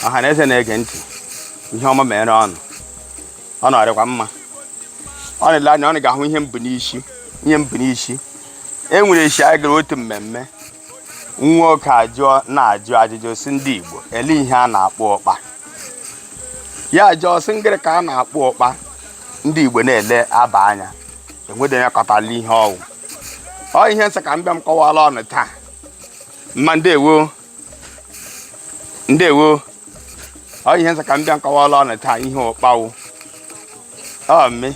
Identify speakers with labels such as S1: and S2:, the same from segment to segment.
S1: ọha na eze na-ege ntị ihe ọma meere unu ọ nọrịkwa mma unu lee anya unu ga-ahụ ihe m bu n'isi ihe m bu n'isi e nwere esi anyị gara otu mmemme nwoke ajụọ na-ajụ ajụjụ sị ndị Igbo ele ihe a na-akpọ ụkpa ya ajụọ sị ngịrị ka a na-akpọ ụkpa ndị Igbo na-ele aba anya enwedi onye kọtala ihe ọ wụ ọ ihe m sị ka m bịa m kọwala unu taa mma ndewo ndewo ọ ihe m sị ka m bịa m kọwala unu taa ihe ụkpa wụ ọ mme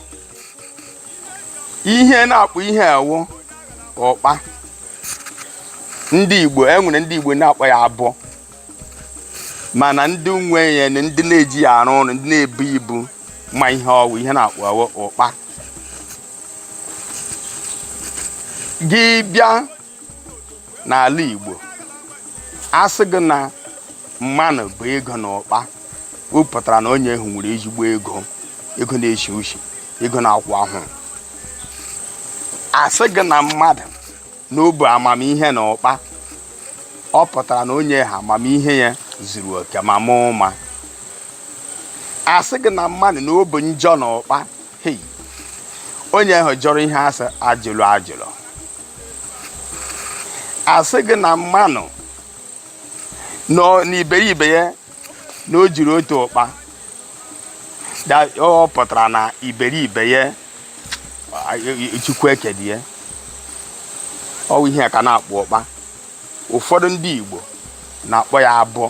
S1: ihe a na-akpọ ihe a wụ ụkpa ndị igbo e nwere ndị igbo na-akpọ ya abọ mana ndị nwe ya na ndị na-eji ya arụ ọrụ ndị na-ebu ibu ma ihe ọ wụ ihe a na-akpọ ya wụ ụkpa gị bịa n'ala Igbo a sị gị na mmanụ bu ego na ụkpa ọ pụtara na onye ahụ nwere ezigbo ego ego na-eshi ushi ego na-akwụ ahụ a sị gị na mmadụ na o bu amamihe na ụkpa ọ pụtara na onye ahụ amamihe ya zuru oke ma ma ụma a sị gị na mmadụ na o bu njọ na ụkpa hei onye ahụ jọrọ ihe a sị ajụlụ ajụlụ a sị gị na mmanụ na iberibe ya na o juru otu ụkpa ọ pụtara na iberibe ya chukwu ekedi ya ọ wụ ihe a ka a na-akpọ ụkpa ụfọdụ ndị Igbo na-akpọ ya abọ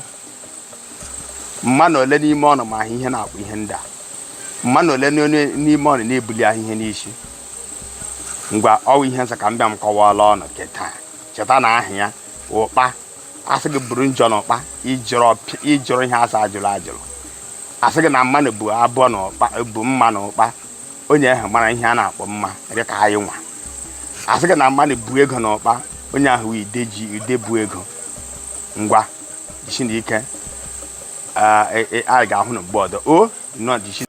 S1: mmanụ ole n'ime unu ma ihe a na-akpọ ihe ndị a mmanụ ole n'ime unu na-ebuli ahụ ihe n'isi ngwa ọ wụ ihe m sị ka m bịa m kọwala unu nke taa cheta na aha ya ụkpa a sị gị buru njọ na ụkpa ị jọrọ ihe a sị ajụlụ ajụlụ a sị gị na mmanụ bu a bu mma na ụkpa onye ahụ mara ihe a na-akpọ mma dị ka anyị nwa a sị gị na mmanụ bu ego na ụkpa onye ahụ wụ ide bu ego ngwa jisienụ ike anyị ga-ahụ na mgbe ọdọ o nọ jisi